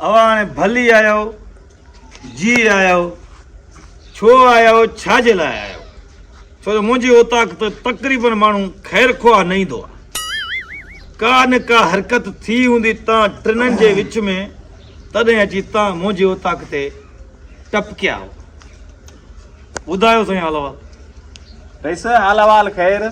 اوهان هاڻي ڀلي آهيو، جي آهيو، ڇو آهيو، ڇا جي لاء آهيو؟ ڇو جو منهنجي اوطاق ته تقريبن ماڻهو خير خواهه نه ايندو آهي. ڪا نه ڪا حرڪت ٿي هوندي تان ٽنن جي وچ ۾ تڏهن اچي تان منهنجي اوطاق تي ٽپڪيا آهو. ٻڌايو سائين حال احوال. رئيس، حال احوال خير.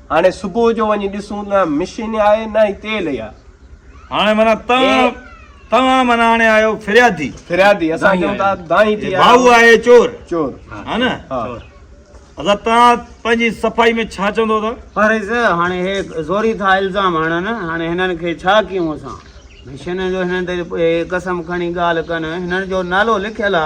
هاڻي صبح جو وڃي ڏسون نه مشين آهي نه هي تيل يا هاڻي منا توهان توهان منا هاڻي آيو فريادي فريادي اسان چون ٿا دائين ٿي ڀاو آهي چور چور ها نه چور ادا توهان پنهنجي صفائي ۾ ڇا چوندو ادا پر اس هاڻي هي زوري ٿا الزام هڻن هاڻي هنن کي ڇا ڪيون اسان مشين جو هنن تي قسم کڻي ڳالهه ڪن هنن جو نالو لکيل آ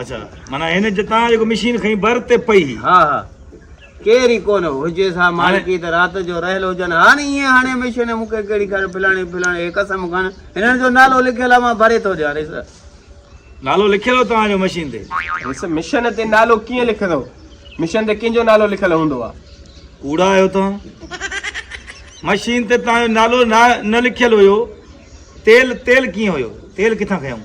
اچھا معنی هن جتان جيڪو مشين کئي بر تي پئي ها ها ڪير ئي ڪونه هجي سا مالڪي ته رات جو رهيل هجن هاڻي ائين هاڻي مشين مون کي ڪهڙي کان پلاڻي پلاڻي هي قسم کان هنن جو نالو لکيل آ مان ڀري ٿو ڏيان ريس نالو لکيل هو توهان جو مشين تي ريس مشين تي نالو ڪيئن لکندو مشين تي ڪنهن جو نالو لکيل هوندو آ ڪوڙا آهيو توهان مشين تي توهان جو نالو نه لکيل هيو تيل تيل ڪيئن هيو تيل ڪٿان کيائون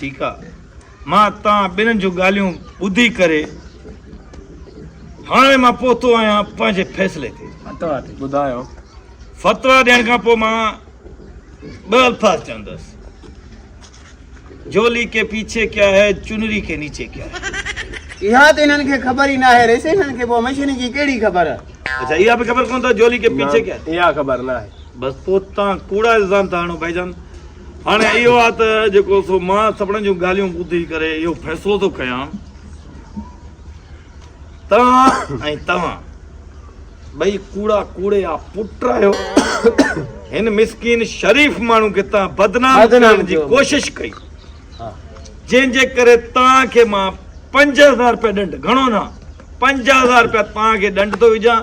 ٺيڪ آ مان توهان ٻنهن جون ڳالهيون ٻڌي ڪري هاڻي مان پهتو آهيان پنهنجي فيصلي تي. فتويٰ تي ٻڌايو. فتويٰ ڏيڻ کان پوء مان ٻه الفاظ چوندس جولي ڪي پيڇي ڪيا هي چنري ڪي نيچي ڪيا هي. اها ته هنن کي خبر ئي ناهي ريسي هنن کي پوء مشيني جي ڪهڙي خبر. اڇا اها به خبر ڪونه اٿس جولي ڪي پيڇي ڪيا هي. اها خبر ناهي. بس پوء توهان ڪوڙا الزام ٿا هڻو ڀائيجان. هاڻي اهو آهي ته جيڪو سو مان سڀني جون ڳالهيون ٻڌي ڪري اهو فيصلو ٿو ڪيان توهان ۽ توهان ٻئي ڪوڙا ڪوڙي آ پٽ آهيو هن مسڪين شريف ماڻهو کي تان بدنام ڪرڻ جي ڪوشش ڪئي جنهن جي ڪري تان کي مان پنج هزار روپيا ڏنڊ گهڻو نه پنج هزار روپيا تان کي ڏنڊ ٿو وجهان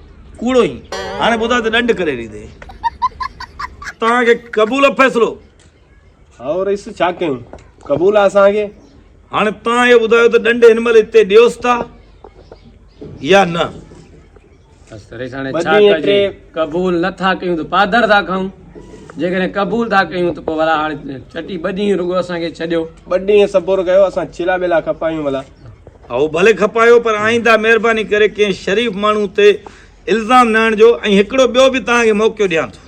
ڪوڙو هين هاڻي ٻڌاء ته ڏنڊ ڪڏهن ڏيندين توهان کي قبول آ فيصلو هائو رئيس ڇا ڪيون قبول آ اسان کي هاڻي توهان اهو ٻڌايو ته ڏنڊ هن مهل هتي ڏيوس ٿا يا نه بس رئيس هاڻي ڇا ڪجي قبول نه ٿا ڪيون ته پادر ٿا کائون جيڪڏهن قبول ٿا ڪيون ته پوء ڀلا هاڻي چٽي ٻه ڏينهن رڳو اسان کي ڇڏيو ٻه ڏينهن صبر ڪيو اسان چيلا ٻيلا کپايون ڀلا اهو ڀلي کپايو پر آئينده مهرباني ڪري ڪنهن شريف ماڻهو تي الزام نه آڻجو ۽ هڪڙو ٻيو به توهان کي موقعو ڏيان ٿو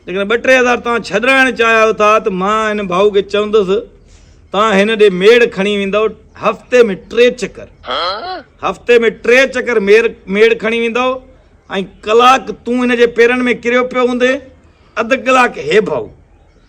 جيڪڏهن ٻه ٽي هزار توهان ڇڏرائڻ چاهيو ٿا ته مان هن ڀائو کي چوندس توهان هن ڏي ميڙ کڻي ويندو هفتي ۾ ٽي چڪر هفتي ۾ ٽي چڪر مير ميڙ کڻي ويندو ۽ ڪلاڪ تون هن جي پيرن ۾ ڪريو پيو هوندي اڌ ڪلاڪ هي ڀائو